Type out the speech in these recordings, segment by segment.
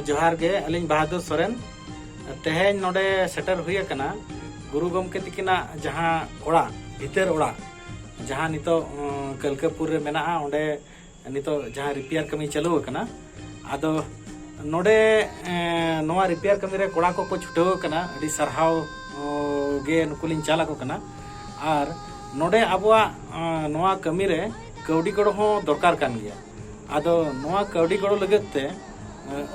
ᱡᱚᱦᱟᱨ ᱜᱮ ᱟᱹᱞᱤᱧ ᱵᱟᱦᱟᱫᱩᱨ ᱥᱚᱨᱮᱱ ᱛᱮᱦᱮᱧ ᱱᱚᱰᱮ ᱥᱮᱴᱮᱨ ᱦᱩᱭ ᱟᱠᱟᱱᱟ ᱜᱩᱨᱩ ᱜᱚᱢᱠᱮ ᱛᱤᱠᱤᱱᱟᱜ ᱡᱟᱦᱟᱸ ᱚᱲᱟᱜ ᱵᱷᱤᱛᱟᱹᱨ ᱚᱲᱟᱜ ᱡᱟᱦᱟᱸ ᱱᱤᱛᱚᱜ ᱠᱟᱹᱞᱠᱟᱹᱯᱩᱨ ᱨᱮ ᱢᱮᱱᱟᱜᱼᱟ ᱚᱸᱰᱮ ᱱᱤᱛᱚᱜ ᱡᱟᱦᱟᱸ ᱨᱤᱯᱮᱭᱟᱨ ᱠᱟᱹᱢᱤ ᱪᱟᱹᱞᱩ ᱟᱠᱟᱱᱟ ᱟᱫᱚ ᱱᱚᱰᱮ ᱱᱚᱣᱟ ᱨᱤᱯᱮᱭᱟᱨ ᱠᱟᱹᱢᱤ ᱨᱮ ᱠᱚᱲᱟ ᱠᱚᱠᱚ ᱪᱷᱩᱴᱟᱹᱣ ᱟᱠᱟᱱᱟ ᱟᱹᱰᱤ ᱥᱟᱨᱦᱟᱣ ᱜᱮ ᱱᱩᱠᱩ ᱞᱤᱧ ᱪᱟᱞ ᱟᱠᱚ ᱠᱟᱱᱟ ᱟᱨ ᱱᱚᱰᱮ ᱟᱵᱚᱣᱟᱜ ᱱᱚᱣᱟ ᱠᱟᱹᱢᱤ ᱨᱮ ᱠᱟᱹᱣᱰᱤ ᱜᱚᱲᱚ ᱦᱚᱸ ᱫᱚᱨᱠᱟᱨ ᱠᱟᱱ ᱜᱮᱭᱟ ᱟᱫᱚ ᱱᱚᱣᱟ ᱠᱟᱹᱣᱰᱤ ᱜᱚᱲᱚ ᱞᱟᱹᱜᱤᱫ ᱛᱮ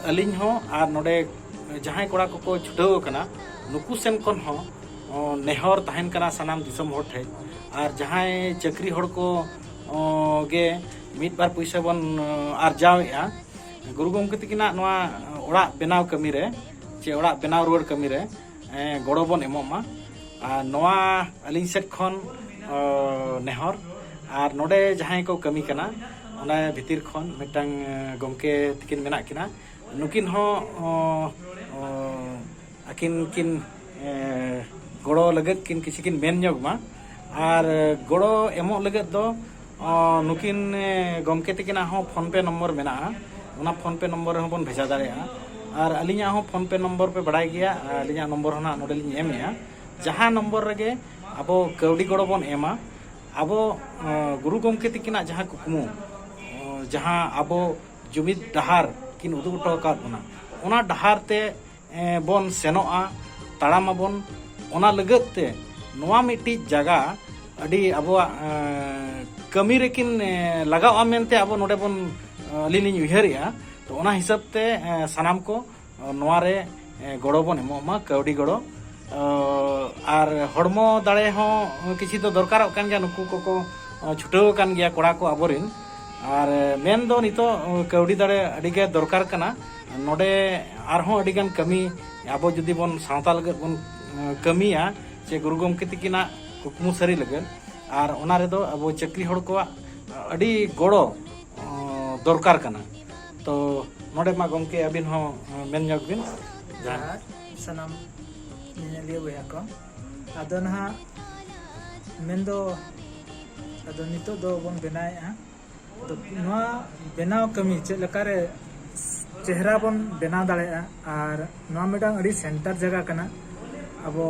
ᱟᱹᱞᱤᱧ ᱦᱚᱸ ᱟᱨ ᱱᱚᱰᱮ ᱡᱟᱦᱟᱸᱭ ᱠᱚᱲᱟ ᱠᱚᱠᱚ ᱪᱷᱩᱴᱟᱹᱣ ᱟᱠᱟᱱᱟ ᱱᱩᱠᱩ ᱥᱮᱱ ᱠᱷᱚᱱ ᱦᱚᱸ ᱱᱮᱦᱚᱨ ᱛᱟᱦᱮᱱ ᱠᱟᱱᱟ ᱥᱟᱱᱟᱢ ᱫᱤᱥᱚᱢ ᱦᱚᱲ ᱴᱷᱮᱡ ᱟᱨ ᱡᱟᱦᱟᱸᱭ ᱪᱟᱹᱠᱨᱤ ᱦᱚᱲ ᱠᱚ ᱜᱮ ᱢᱤᱫ ᱵᱟᱨ ᱯᱚᱭᱥᱟ ᱵᱚᱱ ᱟᱨᱡᱟᱣᱮᱜᱼᱟ ᱜᱩᱨᱩ ᱜᱚᱢᱠᱮ ᱛᱟᱹᱠᱤᱱᱟᱜ ᱱᱚᱣᱟ ᱚᱲᱟᱜ ᱵᱮᱱᱟᱣ ᱠᱟᱹᱢᱤ ᱨᱮ ᱪᱮ ᱚᱲᱟᱜ ᱵᱮᱱᱟᱣ ᱨᱩᱣᱟᱹᱲ ᱠᱟᱹᱢᱤ ᱨᱮ ᱜᱚᱲᱚ ᱵᱚᱱ ᱮᱢᱚᱜ ᱢᱟ ᱟᱨ ᱱᱚᱣᱟ ᱟᱹᱞᱤᱧ ᱥᱮᱫ ᱠᱷᱚᱱ ᱱᱮᱦᱚᱨ ᱟᱨ ᱱᱚᱰᱮ ᱡᱟᱦᱟᱸᱭ ᱠᱚ ᱠᱟᱹᱢᱤ ᱠᱟᱱᱟ ᱚᱱᱟ ᱵᱷᱤᱛᱤᱨ ᱠᱷᱚᱱ ᱢᱤᱫᱴᱟᱝ ᱜᱚᱢᱠᱮ ᱛᱟᱹᱠᱤᱱ ᱢᱮᱱᱟᱜ ᱠᱤᱱᱟ ᱱᱩᱠᱤᱱ ᱦᱚᱸ ᱟᱹᱠᱤᱱ ᱠᱤᱱ ᱜᱚᱲᱚ ᱞᱟᱹᱜᱤᱫ ᱠᱤᱱ ᱠᱤᱪᱷᱩ ᱠᱤᱱ ᱢᱮᱱ ᱧᱚᱜᱽ ᱢᱟ ᱟᱨ ᱜᱚᱲᱚ ᱮᱢᱚᱜ ᱞᱟᱹᱜᱤᱫ ᱫᱚ ᱱᱩᱠᱤᱱ ᱜᱚᱢᱠᱮ ᱛᱟᱹᱠᱤᱱᱟᱜ ᱦᱚᱸ ᱯᱷᱳᱱ ᱯᱮ ᱱᱚᱢᱵᱚᱨ ᱢᱮᱱᱟᱜᱼᱟ ᱚᱱᱟ ᱯᱷᱳᱱ ᱯᱮ ᱱᱚᱢᱵᱚᱨ ᱨᱮᱦᱚᱸ ᱵᱚᱱ ᱵᱷᱮᱡᱟ ᱫᱟᱲᱮᱭᱟᱜᱼᱟ ᱟᱨ ᱟᱹᱞᱤᱧᱟᱜ ᱦᱚᱸ ᱯᱷᱳᱱ ᱯᱮ ᱱᱚᱢᱵᱚᱨ ᱯᱮ ᱵᱟᱲᱟᱭ ᱜᱮᱭᱟ ᱟᱹᱞᱤᱧᱟᱜ ᱱᱚᱢᱵᱚᱨ ᱦᱚᱸ ᱱᱟᱦᱟᱜ ᱱᱚᱰᱮ ᱞᱤᱧ ᱮᱢᱮᱜᱼᱟ ᱡᱟᱦᱟᱸ ᱱᱚᱢᱵᱚᱨ ᱨᱮᱜᱮ ᱟᱵᱚ ᱠᱟᱹᱣᱰᱤ ᱜᱚᱲᱚ ᱵᱚᱱ ᱮᱢᱟ ᱟᱵᱚ ᱜᱩᱨᱩ ᱜᱚᱢᱠᱮ ᱛᱟᱹᱠᱤᱱᱟᱜ ᱡᱟᱦᱟᱸ ᱠᱩᱠᱢᱩ ᱡᱟᱦᱟᱸ ᱟᱵᱚ ᱡᱩᱢᱤᱫ ᱰᱟᱦᱟᱨ ᱠᱤᱱ ᱩᱫᱩᱜ ᱦᱚᱴᱚ ᱟᱠᱟᱫ ᱵᱚᱱᱟ ᱚᱱᱟ ᱰᱟᱦᱟᱨ ᱛᱮ ᱵᱚᱱ ᱥᱮᱱᱚᱜᱼᱟ ᱛᱟᱲᱟᱢ ᱟᱵᱚᱱ ᱚᱱᱟ ᱞᱟᱹᱜᱤᱫ ᱛᱮ ᱱᱚᱣᱟ ᱢᱤᱫᱴᱤᱡ ᱡᱟᱭᱜᱟ ᱟᱹᱰᱤ ᱟᱵᱚᱣᱟᱜ ᱠᱟᱹᱢᱤ ᱨᱮᱠᱤᱱ ᱞᱟᱜᱟᱜᱼᱟ ᱢᱮᱱᱛᱮ ᱟᱵᱚ ᱱᱚᱰᱮ ᱵᱚᱱ ᱟᱹᱞᱤᱧ ᱞᱤᱧ ᱩᱭᱦᱟᱹᱨᱮᱜᱼᱟ ᱛᱚ ᱚᱱᱟ ᱦᱤᱥᱟᱹᱵ ᱛᱮ ᱥᱟᱱᱟᱢ ᱠᱚ ᱱᱚᱣᱟ ᱨᱮ ᱜᱚᱲᱚ ᱵᱚᱱ ᱮᱢᱚᱜ ᱢᱟ ᱠᱟᱹᱣᱰᱤ ᱜᱚᱲᱚ ᱟᱨ ᱦᱚᱲᱢᱚ ᱫᱟᱲᱮ ᱦᱚᱸ ᱠᱤᱪᱷᱤ ᱫᱚ ᱫᱚᱨᱠᱟᱨᱚᱜ ᱠᱟᱱ ᱜᱮᱭᱟ ᱱᱩᱠᱩ ᱠᱚᱠᱚ ᱪᱷᱩᱴᱟᱹᱣ ᱟᱠᱟᱱ ᱜᱮᱭᱟ ᱠᱚᱲᱟ ᱠᱚ ᱟᱵᱚᱨᱮᱱ ᱟᱨ ᱢᱮᱱ ᱫᱚ ᱱᱤᱛᱚᱜ ᱠᱟᱹᱣᱰᱤ ᱫᱟᱲᱮ ᱟᱹᱰᱤ ᱜᱮ ᱫᱚᱨᱠᱟᱨ ᱠᱟᱱᱟ ᱱᱚᱰᱮ ᱟᱨᱦᱚᱸ ᱟᱹᱰᱤ ᱜᱟᱱ ᱠᱟᱹᱢᱤ ᱟᱵᱚ ᱡᱩᱫᱤ ᱵᱚᱱ ᱥᱟᱶᱛᱟ ᱞᱟᱹᱜᱤᱫ ᱵᱚᱱ ᱠᱟᱹᱢᱤᱭᱟ ᱥᱮ ᱜᱩᱨᱩ ᱜᱚᱢᱠᱮ ᱛᱤᱠᱤᱱᱟᱜ ᱠᱩᱠᱢᱩ ᱥᱟᱹᱨᱤ ᱞᱟᱹᱜᱤᱫ ᱟᱨ ᱚᱱᱟ ᱨᱮᱫᱚ ᱟᱵᱚ ᱪᱟᱹᱠᱨᱤ ᱦᱚᱲ ᱠᱚᱣᱟᱜ ᱟᱹᱰᱤ ᱜᱚᱲᱚ ᱫᱚᱨᱠᱟᱨ ᱠᱟᱱᱟ ᱛᱚ ᱱᱚᱰᱮ ᱢᱟ ᱜᱚᱢᱠᱮ ᱟᱹᱵᱤᱱ ᱦᱚᱸ ᱢᱮᱱ ᱧᱚᱜ ᱵᱤᱱ ᱡᱟᱦᱟᱸ ᱥᱟᱱᱟᱢ ᱧᱮᱧᱮᱞᱤᱭᱟᱹ ᱵᱚᱭᱦᱟ ᱠᱚ ᱟᱫᱚ ᱱᱟᱦᱟᱜ ᱢᱮᱱᱫᱚ ᱟᱫᱚ ᱱᱤᱛᱚᱜ ᱫᱚ ᱵᱚᱱ ᱵᱮᱱᱟᱣᱮᱫᱼᱟ ᱱᱚᱣᱟ ᱵᱮᱱᱟᱣ ᱠᱟᱹᱢᱤ ᱪᱮᱫ ᱞᱮᱠᱟᱨᱮ ᱪᱮᱦᱨᱟ ᱵᱚᱱ ᱵᱮᱱᱟᱣ ᱫᱟᱲᱮᱭᱟᱜᱼᱟ ᱟᱨ ᱱᱚᱣᱟ ᱢᱤᱫᱴᱟᱝ ᱟᱹᱰᱤ ᱥᱮᱱᱴᱟᱨ ᱡᱟᱭᱜᱟ ᱠᱟᱱᱟ ᱟᱵᱚ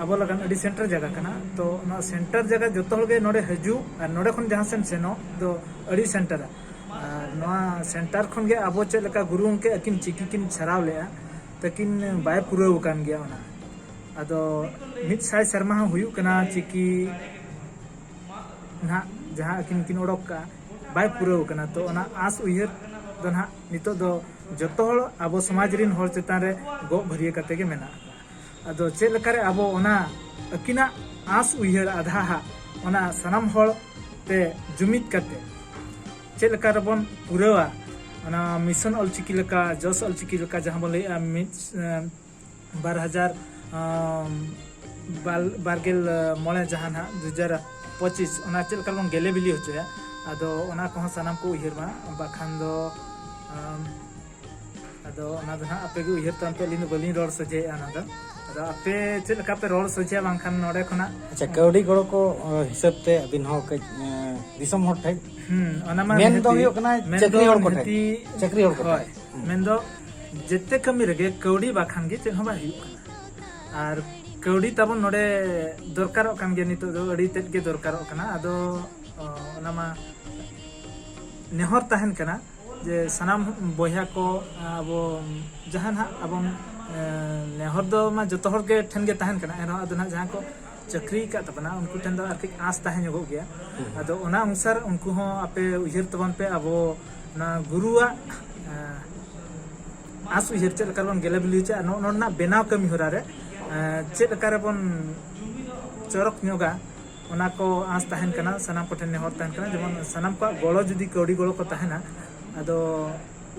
ᱟᱵᱚ ᱞᱟᱜᱟᱱ ᱟᱹᱰᱤ ᱥᱮᱱᱴᱟᱨ ᱡᱟᱭᱜᱟ ᱠᱟᱱᱟ ᱛᱚ ᱚᱱᱟ ᱥᱮᱱᱴᱟᱨ ᱡᱟᱭᱜᱟ ᱡᱚᱛᱚ ᱦᱚᱲ ᱜᱮ ᱱᱚᱰᱮ ᱦᱤᱡᱩᱜ ᱟᱨ ᱱᱚᱰᱮ ᱠᱷᱚᱱ ᱡᱟᱦᱟᱸ ᱥᱮᱱ ᱥᱮᱱᱚᱜ ᱫᱚ ᱟᱹᱰᱤ ᱥᱮᱱᱴᱟᱨᱟ ᱟᱨ ᱱᱚᱣᱟ ᱥᱮᱱᱴᱟᱨ ᱠᱷᱚᱱ ᱜᱮ ᱟᱵᱚ ᱪᱮᱫ ᱞᱮᱠᱟ ᱜᱩᱨᱩ ᱜᱚᱢᱠᱮ ᱟᱹᱠᱤᱱ ᱪᱤᱠᱤ ᱠᱤᱱ ᱪᱷᱟᱨᱟᱣ ᱞᱮᱜᱼᱟ ᱛᱟᱹᱠᱤᱱ ᱵᱟᱭ ᱯᱩᱨᱟᱹᱣ ᱟᱠᱟᱱ ᱜᱮᱭᱟ ᱚᱱᱟ ᱟᱫᱚ ᱢᱤᱫ ᱥᱟᱭ ᱥᱮᱨᱢᱟ ᱦᱚᱸ ᱦᱩᱭᱩᱜ ᱠᱟᱱᱟ ᱪᱤᱠᱤ ᱱᱟᱦᱟᱜ ᱡᱟᱦᱟᱸ ᱟᱹᱠᱤᱱ ᱠᱤᱱ ᱚᱰᱚᱠ ᱠᱟᱜᱼᱟ ᱵᱟᱭ ᱯᱩᱨᱟᱹᱣ ᱠᱟᱱᱟ ᱛᱚ ᱚᱱᱟ ᱟᱸᱥ ᱩᱭᱦᱟᱹᱨ ᱫᱚ ᱱᱟᱦᱟᱜ ᱱᱤᱛᱚᱜ ᱫᱚ ᱡᱚᱛᱚ ᱦᱚᱲ ᱟᱵᱚ ᱥᱚᱢᱟᱡᱽ ᱨᱤᱱ ᱦᱚᱲ ᱪᱮᱛᱟᱱ ᱨᱮ ᱜᱚᱜ ᱵᱷᱟᱹᱨᱭᱟᱹ ᱠᱟᱛᱮ ᱜᱮ ᱢᱮᱱᱟᱜ ᱟᱫᱚ ᱪᱮᱫ ᱞᱮᱠᱟᱨᱮ ᱟᱵᱚ ᱚᱱᱟ ᱟᱹᱠᱤᱱᱟᱜ ᱟᱸᱥ ᱩᱭᱦᱟᱹᱨ ᱟᱫᱷᱟ ᱦᱟᱜ ᱚᱱᱟ ᱥᱟᱱᱟᱢ ᱦᱚᱲ ᱛᱮ ᱡᱩᱢᱤᱫ ᱠᱟᱛᱮ ᱪᱮᱫ ᱞᱮᱠᱟ ᱨᱮᱵᱚᱱ ᱯᱩᱨᱟᱹᱣᱟ ᱚᱱᱟ ᱢᱤᱥᱚᱱ ᱚᱞᱪᱤᱠᱤ ᱞᱮᱠᱟ ᱡᱚᱥ ᱚᱞᱪᱤᱠᱤ ᱞᱮᱠᱟ ᱡᱟᱦᱟᱸ ᱵᱚᱱ ᱞᱟᱹᱭᱮᱜᱼᱟ ᱢᱤᱫ ᱵᱟᱨ ᱦᱟᱡᱟᱨ ᱵᱟᱨᱜᱮᱞ ᱢᱚᱬᱮ ᱡᱟᱦᱟᱸ ᱱᱟᱦᱟᱜ ᱫᱩ ᱦᱟᱡᱟᱨ ᱯᱚᱸᱪᱤᱥ ᱚᱱᱟ ᱪᱮᱫ ᱞᱮᱠᱟ ᱵᱚᱱ ᱜᱮᱞᱮ ᱵᱤᱞᱤ ᱦᱚᱪᱚᱭᱟ ᱟᱫᱚ ᱚᱱᱟ ᱠᱚᱦᱚᱸ ᱥᱟᱱᱟᱢ ᱠᱚ ᱩᱭᱦᱟᱹᱨ ᱢᱟ ᱵᱟᱠᱷᱟᱱ ᱫᱚ ᱟᱫᱚ ᱚᱱᱟ ᱫᱚ ᱱᱟᱦᱟᱜ ᱟᱯᱮ ᱜᱮ ᱩᱭᱦᱟᱹᱨ ᱛᱟᱢ ᱯᱮ ᱟᱹᱞᱤᱧ ᱫᱚ ᱵᱟᱹᱞᱤᱧ ᱨᱚᱲ ᱥᱚᱡᱷᱮᱭᱮᱫᱼᱟ ᱚᱱᱟ ᱫᱚ ᱟᱫᱚ ᱟᱯᱮ ᱪᱮᱫ ᱞᱮᱠᱟ ᱯᱮ ᱨᱚᱲ ᱥᱚᱡᱷᱮᱭᱟ ᱵᱟᱝᱠᱷᱟᱱ ᱱᱚᱰᱮ ᱠᱷᱚᱱᱟᱜ ᱟᱪᱪᱷᱟ ᱠᱟᱹᱣᱰᱤ ᱜᱚᱲᱚ ᱠᱚ ᱦᱤᱥᱟᱹᱵ ᱛᱮ ᱟᱹᱵᱤᱱ ᱦᱚᱸ ᱠᱟᱹᱡ ᱫᱤᱥᱚᱢ ᱦᱚᱲ ᱴᱷᱮᱱ ᱦᱩᱸ ᱚᱱᱟ ᱢᱟ ᱢᱮᱱ ᱫᱚ ᱦᱩᱭᱩᱜ ᱠᱟᱱᱟ ᱪᱟᱹᱠᱨᱤ ᱦᱚᱲ ᱠᱚ ᱴᱷᱮᱱ ᱪᱟᱹᱠᱨᱤ ᱦᱚᱲ ᱠᱚ ᱴᱷᱮᱱ ᱢᱮᱱ ᱫᱚ ᱡᱮᱛᱮ ᱠᱟᱹᱢᱤ ᱨᱮᱜᱮ ᱠᱟᱹᱣᱰᱤ ᱵᱟᱠᱷᱟᱱ ᱜᱮ ᱪᱮᱫ ᱦᱚᱸ ᱵᱟᱭ ᱦᱩᱭᱩᱜ ᱠᱟᱱᱟ ᱟᱨ ᱠᱟᱹᱣᱰᱤ ᱛᱟᱵᱚᱱ ᱱᱚᱰᱮ ᱫᱚᱨᱠᱟᱨᱚᱜ ᱠᱟᱱ ᱜᱮᱭᱟ ᱱᱤᱛᱚᱜ ᱫᱚ ᱟᱹᱰᱤ ᱛᱮᱫ ᱜᱮ ᱫᱚᱨᱠᱟᱨᱚᱜ ᱠᱟᱱᱟ ᱟᱫᱚ ᱚᱱᱟ ᱢᱟ ᱱᱮᱦᱚᱨ ᱛᱟᱦᱮᱱ ᱠᱟᱱᱟ ᱡᱮ ᱥᱟᱱᱟᱢ ᱵᱚᱭᱦᱟ ᱠᱚ ᱟᱵᱚ ᱡᱟᱦᱟᱸ ᱱᱟᱦᱟᱜ ᱟᱵᱚ ᱱᱮᱦᱚᱨ ᱫᱚ ᱢᱟ ᱡᱚᱛᱚ ᱦᱚᱲ ᱜᱮ ᱴᱷᱮᱱ ᱜᱮ ᱛᱟᱦᱮᱱ ᱠᱟᱱᱟ ᱮᱱ ᱨᱮᱦᱚᱸ ᱟᱫᱚ ᱱᱟᱦᱟᱜ ᱡᱟᱦᱟᱸ ᱠᱚ ᱪᱟᱹᱠᱨᱤ ᱟᱠᱟᱫ ᱛᱟᱵᱚᱱᱟ ᱩᱱᱠᱩ ᱴᱷᱮᱱ ᱫᱚ ᱟᱨ ᱠᱟᱹᱡ ᱟᱸᱥ ᱛᱟᱦᱮᱸ ᱧᱚᱜᱚᱜ ᱜᱮᱭᱟ ᱟᱫᱚ ᱚᱱᱟ ᱚᱱᱩᱥᱟᱨ ᱩᱱᱠᱩ ᱦᱚᱸ ᱟᱯᱮ ᱩᱭᱦᱟᱹᱨ ᱛᱟᱵᱚᱱ ᱯᱮ ᱟᱵᱚ ᱚᱱᱟ ᱜᱩᱨᱩᱣᱟᱜ ᱟᱸᱥ ᱩᱭᱦᱟᱹᱨ ᱪᱮᱫ ᱞᱮᱠᱟ ᱵᱚᱱ ᱜᱮᱞᱮ ᱵᱤᱞᱤ ᱦᱚᱪᱚ ᱟᱨ ᱱᱚᱜᱼᱚ ᱱᱚᱣᱟ ᱵᱮᱱᱟᱣ ᱠᱟᱹᱢᱤ ᱦᱚᱨᱟ ᱨᱮ ᱪᱮᱫ ᱞᱮᱠᱟ ᱨᱮᱵᱚᱱ ᱪᱚᱨᱚᱠ ᱧᱚᱜᱟ ᱚᱱᱟ ᱠᱚ ᱟᱸᱥ ᱛᱟᱦᱮᱱ ᱠᱟᱱᱟ ᱥᱟᱱᱟᱢ ᱠᱚᱴᱷᱮᱱ ᱱᱮᱦᱚᱨ ᱛᱟᱦᱮᱱ ᱠᱟᱱᱟ ᱡᱮᱢᱚᱱ ᱥᱟᱱᱟᱢ ᱠᱚᱣᱟᱜ ᱜᱚᱲᱚ ᱡᱩᱫᱤ ᱠᱟᱹᱣᱰᱤ ᱜᱚᱲᱚ ᱠᱚ ᱛᱟᱦᱮᱱᱟ ᱟᱫᱚ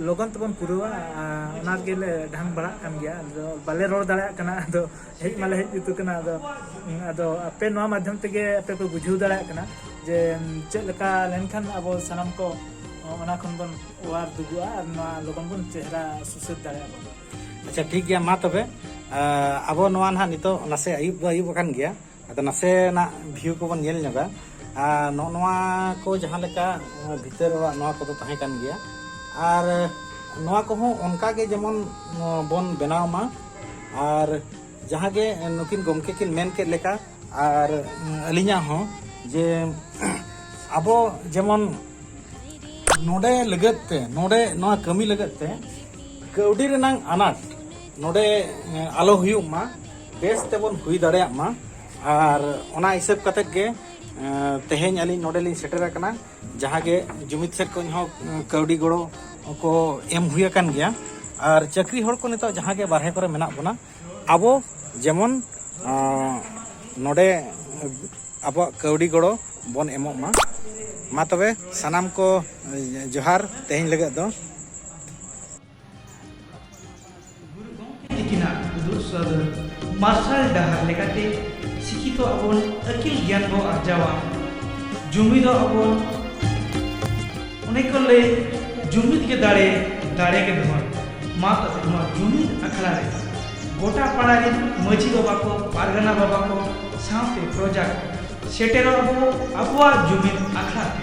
ᱞᱚᱜᱚᱱ ᱛᱮᱵᱚᱱ ᱯᱩᱨᱟᱹᱣᱟ ᱚᱱᱟ ᱜᱮᱞᱮ ᱰᱷᱟᱝ ᱵᱟᱲᱟᱜ ᱠᱟᱱ ᱜᱮᱭᱟ ᱟᱫᱚ ᱵᱟᱞᱮ ᱨᱚᱲ ᱫᱟᱲᱮᱭᱟᱜ ᱠᱟᱱᱟ ᱟᱫᱚ ᱦᱮᱡ ᱢᱟᱞᱮ ᱦᱮᱡ ᱡᱩᱛ ᱠᱟᱱᱟ ᱟᱫᱚ ᱟᱫᱚ ᱟᱯᱮ ᱱᱚᱣᱟ ᱢᱟᱫᱷᱭᱚᱢ ᱛᱮᱜᱮ ᱟᱯᱮ ᱯᱮ ᱵᱩᱡᱷᱟᱹᱣ ᱫᱟᱲᱮᱭᱟᱜ ᱠᱟᱱᱟ ᱡᱮ ᱪᱮᱫ ᱞᱮᱠᱟ ᱞᱮᱱᱠᱷᱟᱱ ᱟᱵᱚ ᱥᱟᱱᱟᱢ ᱠᱚ ᱚᱱᱟ ᱠᱷᱚᱱ ᱵᱚᱱ ᱚᱣᱟᱨ ᱫᱩᱜᱩᱜᱼᱟ ᱟᱨ ᱱᱚᱣᱟ ᱞᱚᱜᱚᱱ ᱵᱚᱱ ᱪᱮᱦᱨᱟ ᱥᱩᱥᱟᱹᱨ ᱫᱟᱲᱮᱭᱟᱜᱼᱟ ᱵᱚᱱ ᱟᱪᱪᱷᱟ ᱴᱷᱤᱠ ᱜᱮᱭᱟ ᱢᱟ ᱛᱚᱵᱮ ᱟᱵᱚ ᱱᱚᱣᱟ ᱱᱟᱦᱟᱜ ᱱᱤᱛᱚᱜ ᱱᱟᱥᱮ ᱟᱹᱭᱩᱵ ᱫᱚ ᱟᱹᱭᱩᱵ ᱟᱠᱟᱱ ᱜᱮᱭᱟ ᱟᱫᱚ ᱱᱟᱥᱮᱱᱟᱜ ᱵᱷᱤᱭᱩ ᱠᱚᱵᱚᱱ ᱧᱮᱞ ᱧᱚᱜᱟ ᱟᱨ ᱱᱚᱜᱼᱚ ᱱᱚᱣᱟ ᱠᱚ ᱡᱟᱦᱟᱸ ᱞᱮᱠᱟ ᱵᱷᱤᱛᱟᱹᱨ ᱚᱲᱟᱜ ᱱᱚᱣᱟ ᱠᱚᱫᱚ ᱛᱟᱦᱮᱸ ᱠᱟᱱ ᱜᱮᱭᱟ ᱟᱨ ᱱᱚᱣᱟ ᱠᱚᱦᱚᱸ ᱚᱱᱠᱟᱜᱮ ᱡᱮᱢᱚᱱ ᱵᱚᱱ ᱵᱮᱱᱟᱣ ᱢᱟ ᱟᱨ ᱡᱟᱦᱟᱸ ᱜᱮ ᱱᱩᱠᱤᱱ ᱜᱚᱢᱠᱮ ᱠᱤᱱ ᱢᱮᱱ ᱠᱮᱫ ᱞᱮᱠᱟ ᱟᱨ ᱟᱹᱞᱤᱧᱟᱜ ᱦᱚᱸ ᱡᱮ ᱟᱵᱚ ᱡᱮᱢᱚᱱ ᱱᱚᱰᱮ ᱞᱟᱹᱜᱤᱫ ᱛᱮ ᱱᱚᱰᱮ ᱱᱚᱣᱟ ᱠᱟᱹᱢᱤ ᱞᱟᱹᱜᱤᱫ ᱛᱮ ᱠᱟᱹᱣᱰᱤ ᱨᱮᱱᱟᱝ ᱟᱱᱟᱴ ᱱᱚᱰᱮ ᱟᱞᱚ ᱦᱩᱭᱩᱜ ᱢᱟ ᱵᱮᱥ ᱛᱮᱵᱚᱱ ᱦᱩᱭ ᱫᱟᱲᱮᱭᱟᱜ ᱢᱟ ᱟᱨ ᱚᱱᱟ ᱦᱤᱥᱟᱹᱵ ᱠᱟᱛᱮᱫ ᱜᱮ ᱛᱮᱦᱮᱧ ᱟᱹᱞᱤᱧ ᱱᱚᱰᱮ ᱞᱤᱧ ᱥᱮᱴᱮᱨ ᱟᱠᱟᱱᱟ ᱡᱟᱦᱟᱸ ᱜᱮ ᱡᱩᱢᱤᱫ ᱥᱮᱫ ᱠᱷᱚᱱ ᱦᱚᱸ ᱠᱟᱹᱣᱰᱤ ᱜᱚᱲᱚ ᱠᱚ ᱮᱢ ᱦᱩᱭ ᱟᱠᱟᱱ ᱜᱮᱭᱟ ᱟᱨ ᱪᱟᱹᱠᱨᱤ ᱦᱚᱲ ᱠᱚ ᱱᱤᱛᱚᱜ ᱡᱟᱦᱟᱸ ᱜᱮ ᱵᱟᱨᱦᱮ ᱠᱚᱨᱮ ᱢᱮᱱᱟᱜ ᱵᱚᱱᱟ ᱟᱵᱚ ᱡᱮᱢᱚᱱ ᱱᱚᱰᱮ ᱟᱵᱚᱣᱟᱜ ᱠᱟᱹᱣᱰᱤ ᱜᱚᱲᱚ ᱵᱚᱱ ᱮᱢᱚᱜ ᱢᱟ ᱢᱟ ᱛᱚᱵᱮ ᱥᱟᱱᱟᱢ ᱠᱚ ᱡᱚᱦᱟᱨ ᱛᱮᱦᱮᱧ ᱞᱟᱹᱜᱤᱫ ᱫᱚ ᱜᱩᱨᱩ ᱜᱚᱢᱠᱮ ᱛᱤᱠᱤᱱᱟᱜ ᱩᱫᱩᱜ ᱥᱚᱫᱚᱨ ᱢᱟᱨᱥᱟᱞ ᱰᱟᱦᱟᱨ ᱞᱮᱠᱟᱛᱮ ᱥᱤᱠᱷᱤᱛᱚ ᱟᱵᱚᱱ ᱟᱹᱠᱤᱞ ᱜᱮᱭᱟᱱ ᱵᱚ ᱟᱨᱡᱟᱣᱟ ᱡᱩᱢᱤᱫᱚ ᱟᱵᱚᱱ ᱚᱱᱮ ᱠᱚ ᱞᱟᱹᱭ ᱡᱩᱢᱤᱫ ᱜᱮ ᱫᱟᱲᱮ ᱫᱟᱲᱮ ᱜᱮ ᱫᱷᱚᱱ ᱢᱟ ᱛᱚᱵᱮ ᱱᱚᱣᱟ ᱡᱩᱢᱤᱫ ᱟᱠᱷᱲᱟ ᱨᱮ ᱜᱚᱴᱟ ᱯᱟᱲᱟ ᱨᱮᱱ ᱢᱟᱹᱡᱷᱤ ᱵᱟᱵᱟ ᱠᱚ ᱯᱟᱨᱜᱟᱱᱟ ᱵᱟᱵᱟ ᱠᱚ ᱥᱟᱶᱛᱮ ᱯᱨᱚᱡᱟ ᱠᱚ ᱥᱮᱴᱮᱨᱚᱜ ᱟᱵᱚ ᱟᱵᱚᱣᱟᱜ ᱡᱩᱢᱤᱫ ᱟᱠᱷᱲᱟ ᱛᱮ